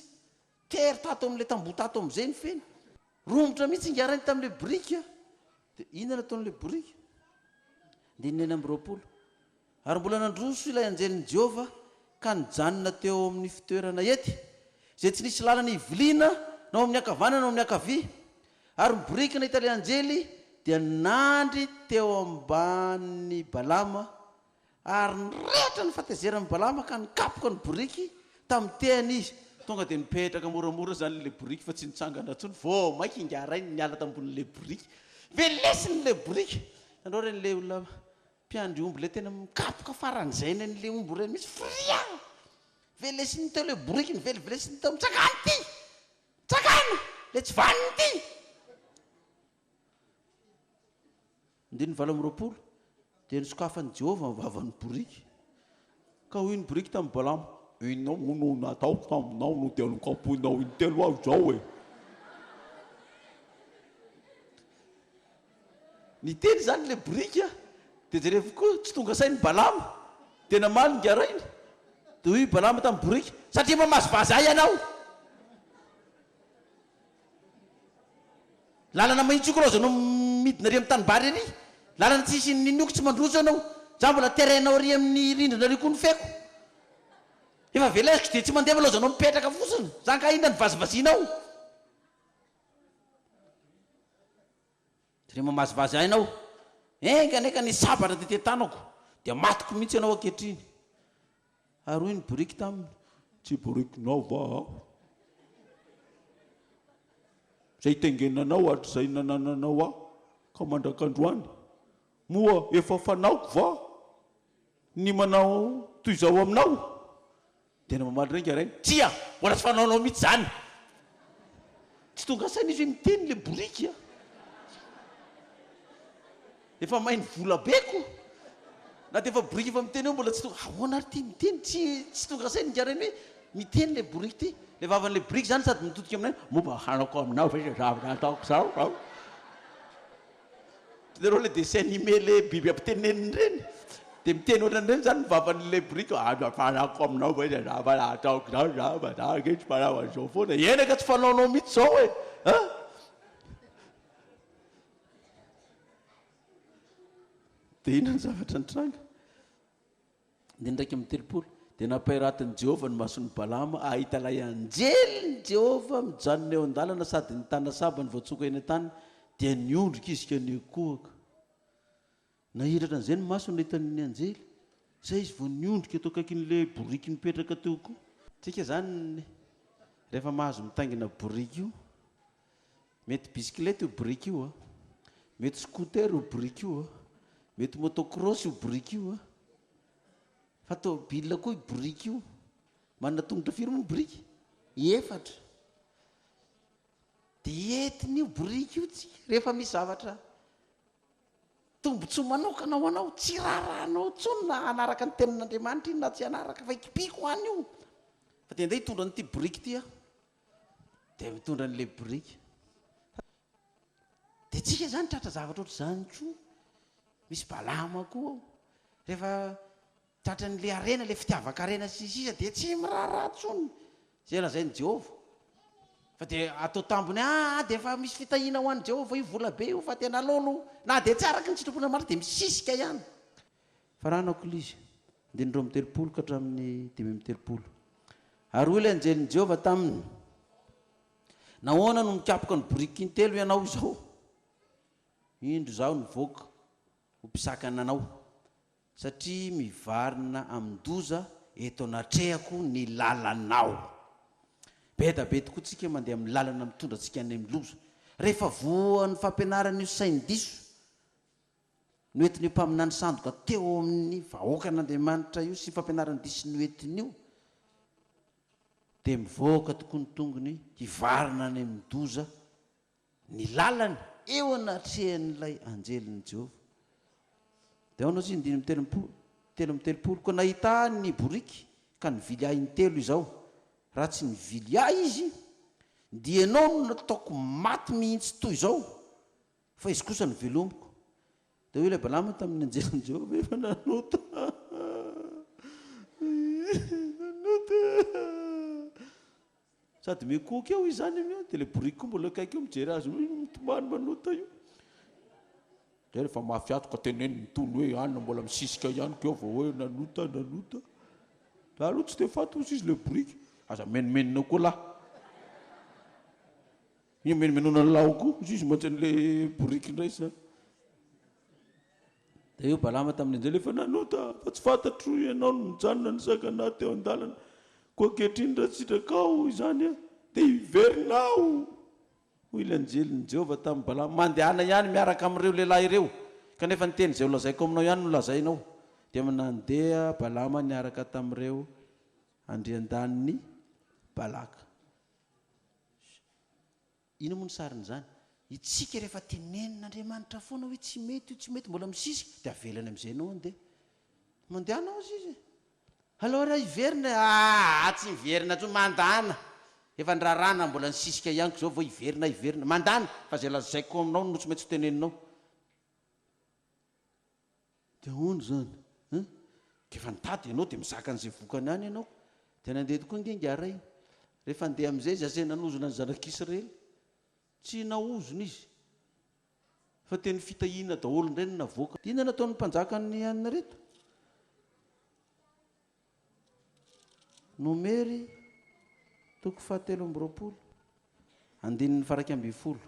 Tery tato amin'ilay tamboho tato amin'izay ny feny. Romotra mihitsy ingarainy tamin'ilay biriky. Dia inona no ataon'ilay boriky? Andininy enina amby roapolo. Ary mbola nandroso ilay anjelin'i Jehovah ka nijanona teo amin'ny fitoerana hety, izay tsy nisy lalana hiviliana na ao amin'ny ankavanana na ao amin'ny ankavia. Ary ny biriky nahita ilay anjely dia nandry teo ambanin'i Balama, ary nirehitra ny fahatezeran'i Balama ka nikapoka ny biriky tamin'ny tehany izy. Tonga dia nipetraka moramora izany ilay biriky fa tsy nitsangana intsony, vao mainka ingarainy niala tambonin'ilay biriky ve lesy ny ilay biriky. Hitanao re an'ilay olona. Mpiandry omby le tena mikapoka faran'izay ny an'le omby iray mihitsy, fria! Velesiny teo le boriky nivelivelesiny teo, mitsangàna ity! Mitsangàna! Le tsy vanona ity! Andininy valo amby roapolo, dia nosokafan'i Jehovah ny vavan'ny boriky. Ka hoy ny boriky tamin'i Balama, Inona moa no nataoko taminao no dia nokapohinao intelo aho izao e? Niteny izany ilay boriky dia jerevy koa tsy tonga saina i Balama dia namaly ny garainy. Dia hoy i Balama tamin'ny boriky, satria mamazivazy ahy ianao, lalana mahitsoko raozy ianao midina ery amin'ny tanimbary ery, lalana tsy hisian'ny ninioko tsy mandroso ianao, za mbola terainao ery amin'ny rindrina ery koa ny feko, efa velaiko dia tsy mandeha fa laozanao mipetraka fotsiny, za angaha inona no vazivazianao? Dia mamazivazy ahy ianao. Enga enga ny sabatra dia te tanako, dia matiko mihitsy ianao ankehitriny. Ary hoy ny boriky taminy, Tsy borikinao va aho? Izay tengenanao hatrizay nanananao ahy ka mandrak'androany, moa efa fanaoko va ny manao toy izao aminao? Tena mamaly reng ary an. Tsia! Mbola tsy fanaonao mihitsy zany. Tsy tonga saina izy hoe miteny le boriky a. Efa may ny vola be ko. Na dia efa boriky efa miteny eo mbola tsy tonga. Ahoana ary ty miteny tsy tsy tonga saina inga reny hoe miteny le boriky ty. Le vavan'le boriky zany sady mitodika aminay. Moa mba hanako aminao ve ze zavatra ataoko zao? Hitanareo ilay dessin animé ilay biby ampiteneniny ireny? Dia miteny ohatran'ireny izany ny vavan'ilay boriky, aza afarako aminao ve izay zavatra ataoko izao, izaho mba za ange tsy mpanao an'izao foana, eny ka tsy fanaonao mihitsy izao e! a. Dia inona ny zavatra nitranga? Andininy iraika amby telopolo, Dia nampahiratin'i Jehovah ny mason'i Balama hahita ilay anjelin'i Jehovah mijanona eo an-dalana sady nitana sabany voatsoka eny an-taniny, dia niondrika izy ka nikohaka. Nahiratra an'izay ny masony nahita ny anjely. Izay izy vao niondrika teo akaikin'ilay boriky nipetraka teo koa. Tsika izany rehefa mahazo mitaingina boriky io. Mety bisikileta io boriky io a, mety scooter io boriky io a, mety motocross io boriky io a, fa tôbila koa io boriky io. Manana tongotra firy moa ny boriky? Efatra. Dia entin'io boriky io tsika rehefa misy zavatra tombontsoa manokana ho anao, tsy raharahanao intsony na hanaraka ny tenin'Andriamanitra iny na tsy hanaraka fa ekipiako ho any io. Fa dia andeha hitondra an'ity boriky ity aho. dia mitondra an'ilay boriky dia tsika zany tratra zavatra ohatr'izany koa misy balama koa ao rehefa tratran'la arena la fitiavankarena sy ny sisa dia tsy miraharaha tsony zay lazain'i jehovah fa dia atao tambiny aa ah, ah, dia efa misy fitahiana ho an'i jehovah io volabe io fa tena lolo na dia tsy araka ny sitrapony marina dia misisika ihany Farana Kolizy, andininy roa amby telopolo ka hatramin'ny dimy amby telopolo. Ary hoy ilay anjelin'i Jehovah taminy, Nahoana no mikapoka ny boriky intelo ianao izao? Indro izaho nivoaka ho mpisakana anao, satria mivarina amin-doza eto anatrehako ny lalanao. Be da be tokoa tsika mandeha amin'ny lalana mitondra antsika any amin'ny loza. Rehefa voan'ny fampianaran'io sain-diso Noentin'io mpaminany sandoka teo amin'ny vahoakan'Andriamanitra io sy fampianaran'ny diso noentiny io dia mivoaka tokoa ny tongony hivarina any amin'ny doza ny lalany eo anatrehan'ilay anjelin'i Jehovah. Deon ozy dimy amby telopolo, telo amby telopolo Koa nahita ahy ny boriky ka nivily ahy intelo izao, raha tsy nivily ahy izy, dia ianao no nataoko maty mihitsy toy izao. Fa izy kosa novelomiko. Dia hoy ilay Balama tamin'ny anjelin'i Jehovah, Efa nanota nanota sady mikoky eo izany anie. Dia ilay boriky koa mbola akaiky eo mijery azy, Hoy io mitomany manota io. Dia rehefa mafy ato ka teneniny ny tony hoe, Any mbola misisika ihany ko vao hoe nanota nanota. Raha aloha tsy dia faty hoy izy ilay boriky, Aza menomenona koa lahy. Mimenomenona ny lahony koa Moizy mandry an'ilay boriky indray sa? Dia hoy Balama tamin'i Anjely, Efa nanota aho, fa tsy fantatro ianao no nijanona nizaka an'ahy teo an-dalana. Koa ankehitriny raha sitrakao izany aho, dia hiverina aho. Hoy ilay anjelin'i Jehovah tamin'i Balama, Mandehana ihany miaraka amin'ireo lehilahy ireo, kanefa ny teny izay holazaiko aminao ihany no lazainao. Dia nandeha Balama niaraka tamin'ireo andriandanin'i Balaka. Inona moa ny sarin'izany? Isika rehefa tenenin'Andriamanitra foana hoe tsy mety io, tsy mety, mbola misisika, dia avelany amin'izay ianao any dia mandehana ao izy izy. Aleo raha hiverina e! Aa, tsy miverina intsony, mandana! Efa niraràna mbola nisisika ihany koa izao vao hiverina, hiverina. Mandana! Fa izay lazaiko aminao no tsy maintsy teneninao. Dia ahoana izany a? Dia efa nitady ianao dia mizaka an'izay vokany ihany ianao. Dia nandeha tokoa ange ingahy Ray. Rehefa handeha amin'izay izy aza nanozona ny zanak'Israely. Tsy nahozona izy. Fa teny fitahiana daholo indray no navoakany. Dia inona no ataon'ny mpanjakan'ny anina ireto? Nomery, toko fahatelo amby roapolo, andininy faraika ambin'ny folo.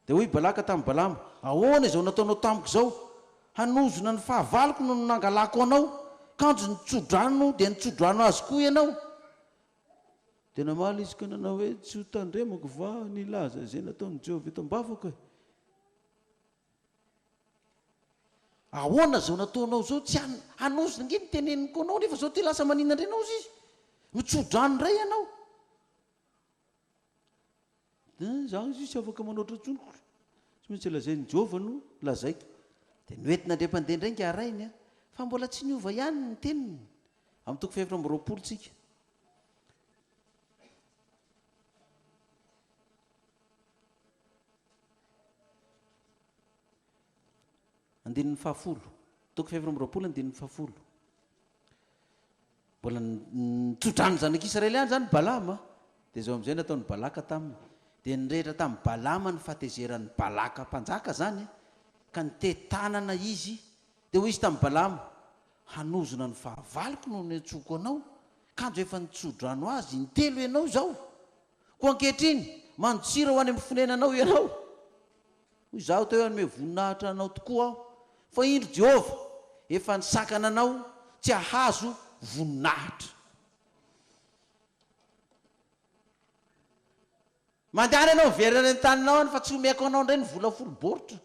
Dia hoy Balaka tamin'i Balama, Ahoana izao nataonao tamiko izao? Hanozona ny fahavaloko no nangalako anao, kanjo nitso-drano dia nitso-drano azy koa ianao. Dia namaly izy ka nanao hoe, Tsy hotandremako va nilaza izay nataon'i Jehovah eto am-bavako e? Ahoana izao nataonao izao tsy an hanozona ange ny teneniny ko anao nefa izao te lasa manina indray anao ziz mitsodrano indray ianao de za ziz tsy afaka manaotra intsony ko tsy maintsy lazain'i Jehovah no lazaiko de noentina indray mpandeha indray ingahy rainy an fa mbola tsy niova ihany ny teniny amin'ny toko fahefatra amby roapolo tsika Andininy fahafolo. Toko fahefatra amby roapolo andininy fahafolo. Mbola nitsodrano zanak'Israely ihany zany Balama. Dia izao amin'izay nataon'i Balaka taminy. Dia nirehitra tamin'i Balama ny fatezeran'i Balaka mpanjaka zany ka nitety tanana izy. Dia hoy izy tamin'i Balama, hanozona ny fahavaloko no nentsoako anao, kanjo efa nitsodrano azy intelo ianao izao. Koa ankehitriny, mandosira ho any amin'ny fonenanao ianao. Hoy izaho teo, Hanome voninahitra anao tokoa aho. Fa indro Jehovah efa nisakana anao tsy hahazo voninahitra. Mandehana ianao miverina any an-taninao any, fa tsy homeko anao indray ny vola folo baoritra.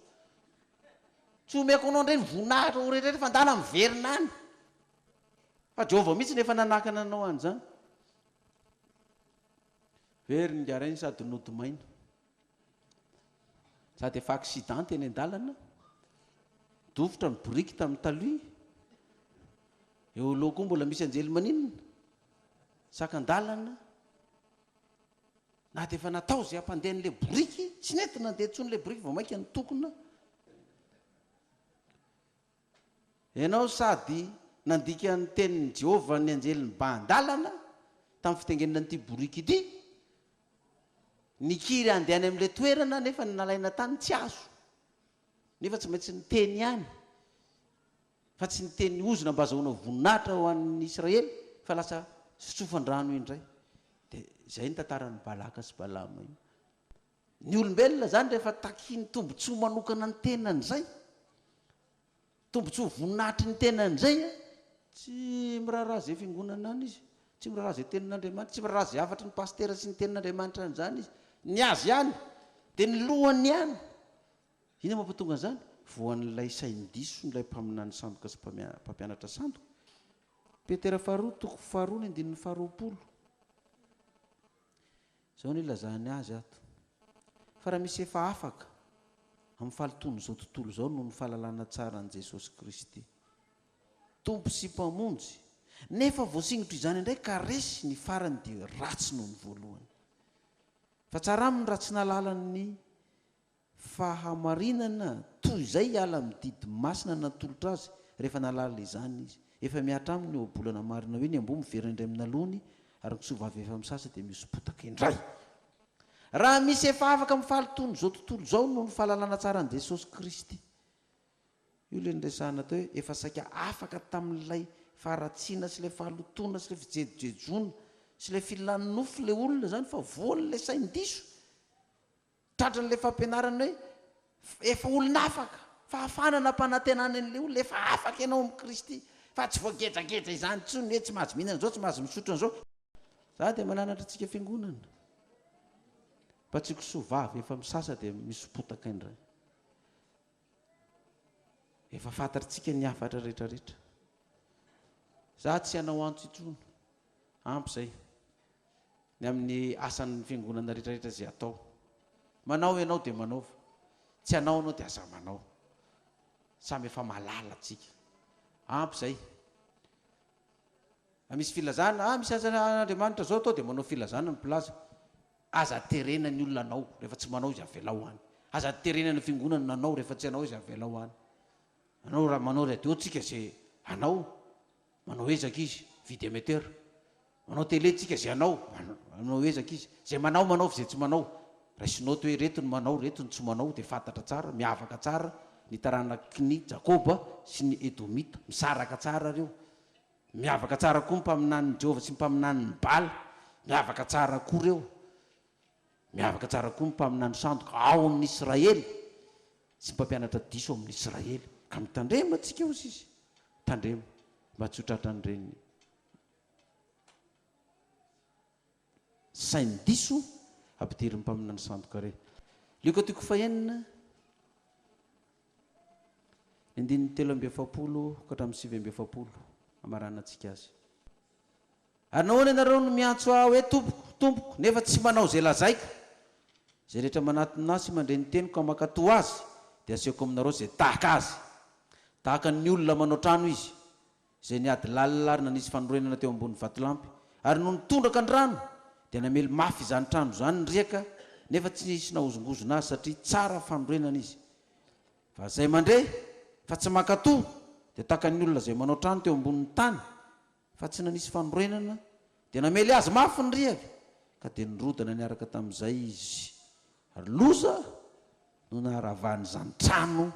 Tsy homeko anao indray ny voninahitra oretraretra, fa ndana miverina any. Fa Jehovah mihitsy no efa nanakana anao an'izany. Very nigaraina sady nodimaina. Sady efa accident teny an-dalana. Dofotra ny boriky tamin'ny taloha. Eo aloha koa mbola misy anjely maninona. Sakan-dalana. Na dia efa natao izay hampandeha an'ilay boriky, tsy nety nandeha intsony ilay boriky vao mainka nitokona. Ianao sady nandika ny tenin'i Jehovah ny anjely mibahan-dalana tamin'ny fitengenana an'ity boriky ity. Nikiry handeha any amin'ilay toerana nefa ny nalaina tany tsy azo. Nefa tsy maintsy niteny ihany, fa tsy ny teny ozona mba hazahoana voninahitra ho an'ny Israely, fa lasa sotsofan-drano indray. Dia izay ny tantaran'i Balaka sy Balama io. Ny olombelona izany rehefa takian'ny tombontsoa manokana ny tenany izay, tombontsoa voninahitry ny tenany izay, tsy miraharaha izay fiangonana any izy, tsy miraharaha izay tenin'Andriamanitra, tsy miraharaha izay hafatry ny pasitera sy ny tenin'Andriamanitra any izany izy. Ny azy ihany, dia ny lohany ihany. Inona no mampatonga an'izany? Voan'ilay sain-dison'ilay mpaminany sandoka sy mpampianatra sandoka. Petera faharoa toko faharoa ny andininy faharoapolo. Izao no ilazany azy ato, fa raha misy efa afaka amin'ny fahalotoan'izao tontolo izao noho ny fahalalana tsara an'i Jesosy Kristy, Tompo sy Mpamonjy, nefa voasingotry izany indray ka resy ny farany dia ratsy noho ny voalohany. Fa tsara aminy raha tsy nahalala ny Fahamarinana, toy izay hiala amin'ny didy masina natolotra azy, rehefa nahalala izany izy. Efa mihatra aminy ohabolana marina hoe ny amboa miverina indray amin'ny nalony, ary ny kisoa vavy efa misasa dia mihoso-potaka indray. Raha misy efa afaka amin'ny fahalotoan'izao tontolo izao noho ny fahalalana tsara an'i Jesosy Kristy, io ilay niresahana teo hoe efa saika afaka tamin'ilay faharatsiana sy ilay fahalotoana sy ilay fijejojejoana sy ilay filan'ny nofo ilay olona izany fa voan'ilay sain-diso. Tratran'ilay fampianarana hoe efa olona afaka, fahafahana nampanantenana an'ilay olona, efa afaka ianao amin'i Kristy, fa tsy voagedragedra izany intsony hoe tsy mahazo mihinana izao, tsy mahazo misotro an'izao. Za dia mananatra antsika fiangonana mba tsy kosovavy efa misasa dia misopotaka indray. Efa fantatrtsika ny hafatra rehetra rehetra. Za tsy hanao antso intsony. Ampy zay. Ny amin'ny asan'ny fiangonana rehetra rehetra zay atao. Manao ianao dia manaova. Tsy hanao ianao dia aza manao. Samy efa malala tsika. Ampy zay. Misy filazana, ah misy asan'Andriamanitra zao atao dia manao filazana ny mpilaza. Aza aterena ny olona anao rehefa tsy manao izy avelao any. Aza aterena ny fiangonana nanao rehefa tsy anao izy avelao any. Anao raha manao radio tsika ze anao manao ezaka izy vide emeter. Manao tele tsika ze anao manao ezaka izy. Ze manao manao fa ze tsy manao raisinao to hoe reto ny manao reto ny tsy manao de fantatra tsara miavaka tsara ny taranaky ny jakoba sy ny edomita misaraka tsara reo. Miavaka tsara koa ny mpaminanin'i Jehovah sy ny mpaminanin'i Bala. Miavaka tsara koa ireo. Miavaka tsara koa ny mpaminany sandoka ao amin'ny Israely sy ny mpampianatra diso ao amin'ny Israely. Ka mitandrema antsika, hoy izy. Mitandrema mba tsy ho tratran'ireny. Sain'ny diso ampidirin'ny mpaminany sandoka re. Lioka toko fahenina, ny andininy telo amby efapolo ka hatramin'ny sivy amby efapolo, amaranantsika azy. Ary nahoana ianareo no miantso Ahy hoe, Tompoko, Tompoko, nefa tsy manao izay lazaiko? Izay rehetra manatona Ahy sy mandre ny teniko ka mankatò azy, dia asehoko aminareo izay tahaka azy. Tahaka ny olona manao trano izy, izay niady lalina ary nanisy fanorenana teo ambony vatolampy, ary nony tondraka ny rano dia namely mafy izany trano izany ny riaka nefa tsy nisy nahozongozona azy satria tsara fanorenana izy. Fa izay mandre fa tsy mankato dia takan'ny olona izay manao trano teo ambonin'ny tany fa tsy nanisy fanorenana dia namely azy mafy ny riaka ka dia nirodana niaraka tamin'izay izy ary loza no naharavan'izany trano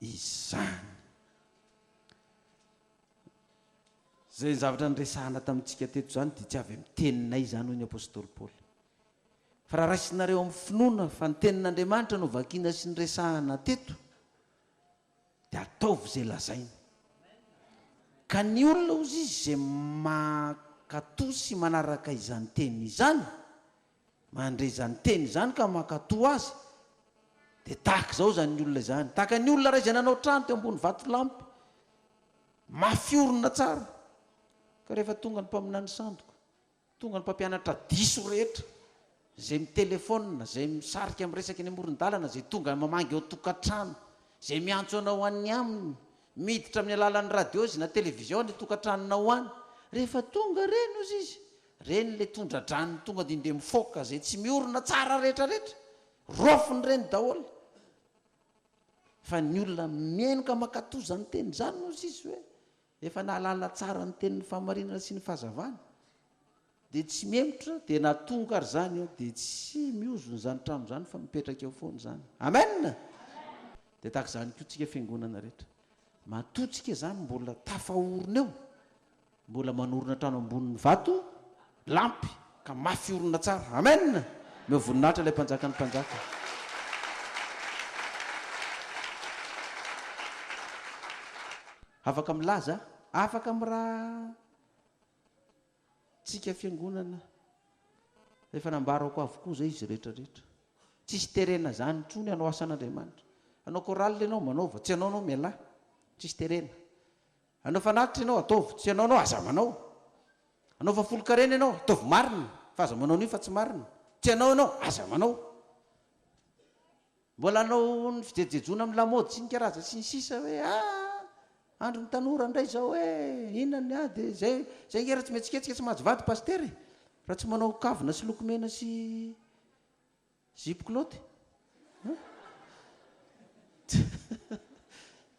izany. Izay zavatra niresahana tamintsika teto izany dia tsy avy amin'ny teninay izany, hoy ny apostoly Paoly. Fa raha raisinareo amin'ny finoana fa ny tenin'Andriamanitra no vakina sy niresahana teto, dia ataovy izay lazainy. Ka ny olona, hozy izy, izay mankatò sy manaraka izany teny izany, Mandre izany teny izany ka mankatoa azy, dia tahaka izao izany olona izany, tahaka ny olona iray izay nanao trano teo ambony vatolampy mafy orina tsara, ka rehefa tonga ny mpaminany sandoka, tonga ny mpampianatra diso rehetra, izay mi-telephone, izay misarika miresaka eny amoron-dalana, izay tonga mamangy ao tokantrano, izay miantso anao any aminy, miditra amin'ny alalan'ny radio izy na televiziona ny tokantranonao any, rehefa tonga ireny hozy izy, Reny le tondradranony tonga dia nde mifoka zay tsy miorina tsara rehetra rehetra raofiny reny dahol fa ny olona mihenoka makatoa zany teny zany no zisy hoe efa nahalala tsara ny tenin'ny famarinana sy ny fazavana dia tsy mihemotra dia na tonga ary zany eo dia tsy miozona zany trano zany fa mipetraka eo foana zany amen dia tahaka zany koa tsika fiangonana rehetra matoa tsika zany mbola tafahorona eo Mbola manorina trano ambonin'ny vato lampy ka mafy orina tsara. Amen! Omeo voninahitra ilay Mpanjakan'ny mpanjaka. Afaka milaza afaka amin'ny raha tsika fiangonana efa nambarako avokoa zay izy rehetra rehetra. Tsisy terena zany intsony hanao asan'Andriamanitra. Hanao chorale ianao manaova, tsy hanao ianao mialà. Tsisy terena. Anao fanatitra ianao, ataovy tsy ianao anao, aza manao. Anao fa folon-karena ianao, ataovy marina fa aza manao an'io fa tsy marina. Tsy ianao ianao, aza manao. Mbola hanao ny fijejojejoana amin'ny lamaody sy ny karaza sy ny sisa hoe ah! andron'ny tanora indray izao e! inona ny ady e! izay izay ange raha tsy mihetsiketsika tsy mahazo vady pasitera e! raha tsy manao kavina sy lokomena sy Zipo kilaoty?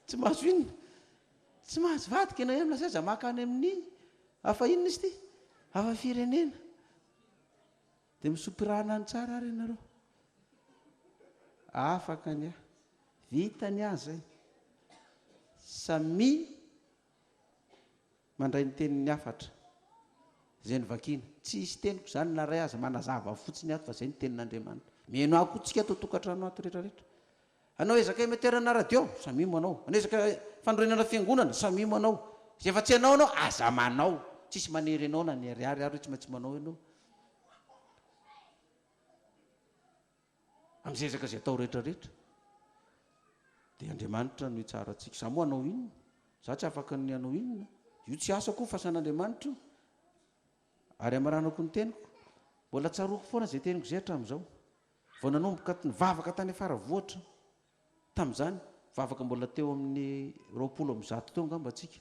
Tsy mahazo inona? Tsy mahazo vadika ianao ihany lasa aiza maka any amin'ny hafa inona izy ity? Hafa firenena. Dia misopirana any tsara ary ianareo. Afaka ny ahy. Vita ny ahy zay. Samia Mandray ny tenin'ny hafatra izay novakiana. Tsy hisy teniko izany na iray aza, manazava fotsiny ato fa izay no tenin'Andriamanitra. Miheno ahy koa tsika ato an-tokantrano ato rehetrarehetra. Hanao ezaka emeterana radio? Samia manao. Hanao ezaka fanorenana fiangonana? Samia manao. Izay efa tsy hanao anao, aza manao. Tsisy manery anao na ny ariary ary hoe tsy maintsy manao ianao. Amin'izay ezaka izay atao rehetra rehetra dia Andriamanitra no hitsara antsika. Izaho moa hanao inona? Izaho tsy afaka ny hanao inona? Io tsy asako io fa asan'Andriamanitra io. Ary hamaranako ny teniko. Mbola tsaroako foana izay teniko izay hatramin'izao. Vao nanomboka nivavaka tany Faravohitra tamin'izany, vavaka mbola teo amin'ny roapolo amby zato teo angamba tsika.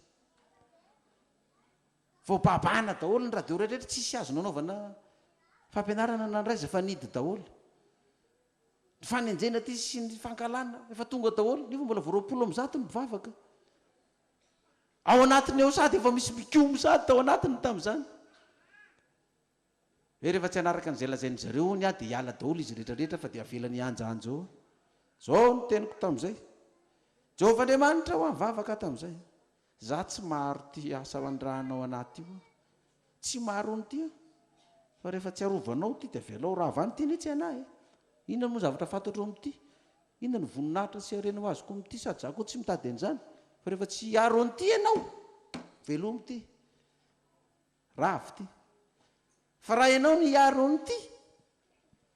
Voababana daholo ny radio rehetra tsisy azo nanaovana fampianarana na niraiza fa nidy daholo. Ny fanenjehana aty sy ny fankahalana efa tonga daholo nefa mbola vao roapolo amby zato ny mpivavaka ao anatiny ao sady efa misy mpikomy sady tao anatiny tamin'izany. Hoe rehefa tsy hanaraka an'izay lazain'ny zareo hono aho dia hiala daholo izy rehetra rehetra fa dia avelany hianja any Jeho. Izao no teniko tamin'izay, Jehovah Andriamanitra ho aho, nivavaka aho tamin'izay, Izaho tsy maharotia asa randrahanao anaty io aho. Tsy maharoa an'ity aho. Fa rehefa tsy arovanao ity dia avelao rava any ity anie tsy anà e. Inona moa zavatra fantatro amin'ity? Inona no voninahitra sy harena ho azoko amin'ity sady izaho koa tsy mitady an'izany? Fa rehefa tsy hiaro an'ity ianao, velomy ity. Ravo ty. Fa raha ianao no hiaro an'ity,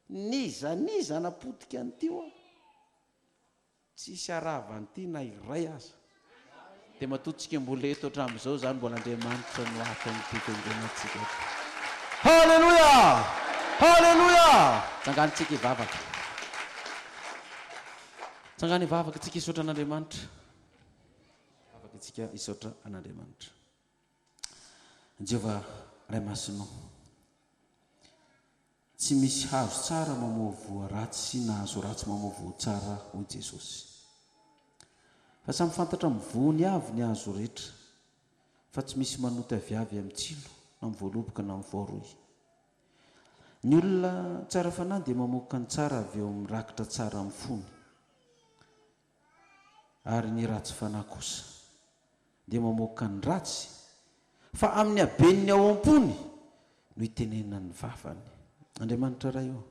n'iza n'iza hanapotika an'ity hoa. Tsy hisy harava an'ity na iray aza. Dia matoa tsika mbola eto hatramin'izao izany mbola Andriamanitra no ato amin'ity fiangonantsika ity. Haleloia! Haleloia! Tsangano tsika hivavaka. Tsangano hivavaka tsika hisaotra an'Andriamanitra. Hivavaka tsika hisaotra an'Andriamanitra. Jehovah Ray Masina ô, tsy misy hazo tsara mamoa voa ratsy sy na hazo ratsy mamoa voa tsara, hoy Jesosy. Fa samy fantatra amin'ny voany avy ny hazo rehetra, fa tsy misy manota aviavy amin'ny tsilo, na amin'ny voaloboka na amin'ny voaroy. Ny olona tsara fanahy dia mamoaka ny tsara avy eo amin'ny rakitra tsara amin'ny fony. ary ny ratsy fanahy kosa dia mamoaka ny ratsy, fa amin'ny haben'ny ao am-pony no itenenan'ny vavany. Andriamanitra Ray ô,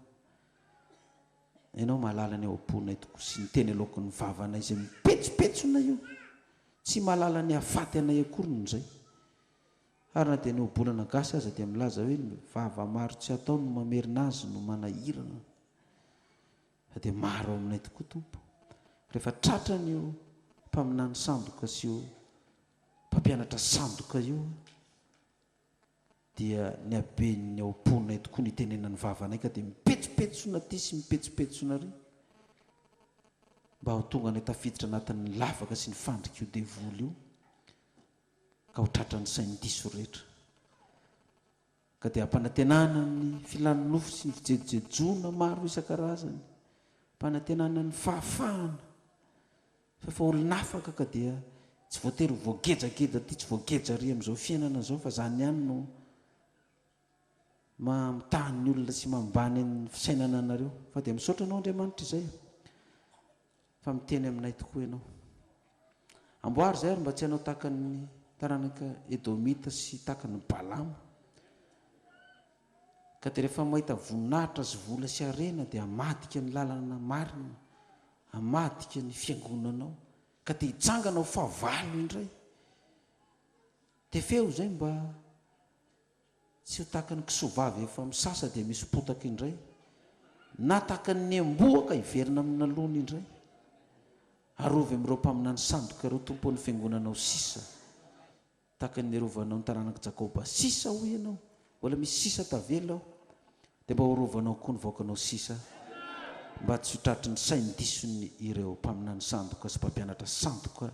Ianao mahalala ny ao am-ponay tokoa sy ny teny aloakon'ny vavanay izay mipetsopetsona io, tsy mahalala ny hahafaty anay akory ny izay, ary na dia ny ohabolana gasy aza dia milaza hoe ny vava maro tsy atao no mamerina azy no manahirana. Fa dia maro ao aminay tokoa, Tompo, rehefa tratran'io mpaminany sandoka sy io mpampianatra sandoka io, dia ny haben'ny ao am-ponay tokoa no itenenan'ny vavanay, ka dia mipetsopetsona aty sy mipetsopetsona ary, mba ho tonga anay tafiditra anatin'ny lavaka sy ny fandrik'io devoly io, ka ho tratran'ny sain-diso rehetra. Ka dia hampanantenana ny filan'ny nofo sy ny fijejojejoana maro isan-karazany, hampanantenana ny fahafahana, fa efa olon'afaka ka dia tsy voatery ho voagejageda aty, tsy voageja ary amin'izao fiainana izao fa izany ihany no maha mitaha ny olona sy maha mibahana ny fisainana anareo. Fa dia misaotra anao Andriamanitra izay. Fa miteny aminay tokoa ianao. Amboary izay ary mba tsy hanao tahaka ny taranaka Edomita sy tahaka an'i Balama. Ka dia rehefa mahita voninahitra sy vola sy harena dia hamadika ny lalana marina, hamadika ny fiangonanao, ka dia hitsangana ho fahavalo indray. Tefeo izay mba. Tsy ho tahaky ny kisoa vavy efa misasa dia misy potaka indray, na tahaka ny nemboa ka hiverina amin'ny nalony indray. Arovy amin'ireo mpaminany sandoka ireo, Tompo ô, ny Fiangonanao sisa, tahaka ny nirovanao ny taranak'i Jakoba sisa, hoy Ianao. Mbola misy sisa tavela ao, dia mba horovanao koa ny vahoakanao sisa, mba tsy ho tratry ny sain-disony ireo mpaminany sandoka sy mpampianatra sandoka.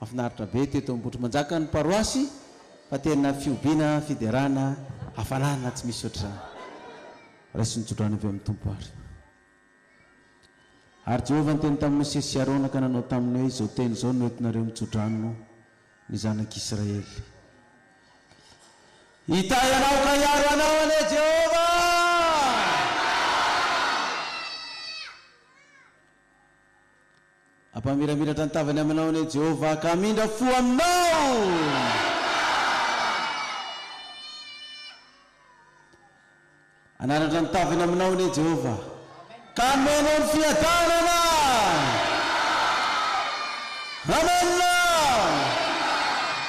Mafinaritra be teto Ambohitrimanjaka ny paroasy fa tena fihobiana fiderana hafanana tsy misy ohatr'izany raisin'ny tsodrano avy amin'ny Tompo ary ary Jehovah niteny tamin'i Mosesy sy Arona ka nanao taminy hoe izao teny izao no entinareo mitsodrano ny zanak'Israely hitahy anao ka hiaro anao anie Jehovah Hampamiramiratra ny tavany aminao anie Jehovah ka hamindra fo aminao! Hananatra ny tavany aminao anie Jehovah ka hanome anao ny fiadanana! Amen!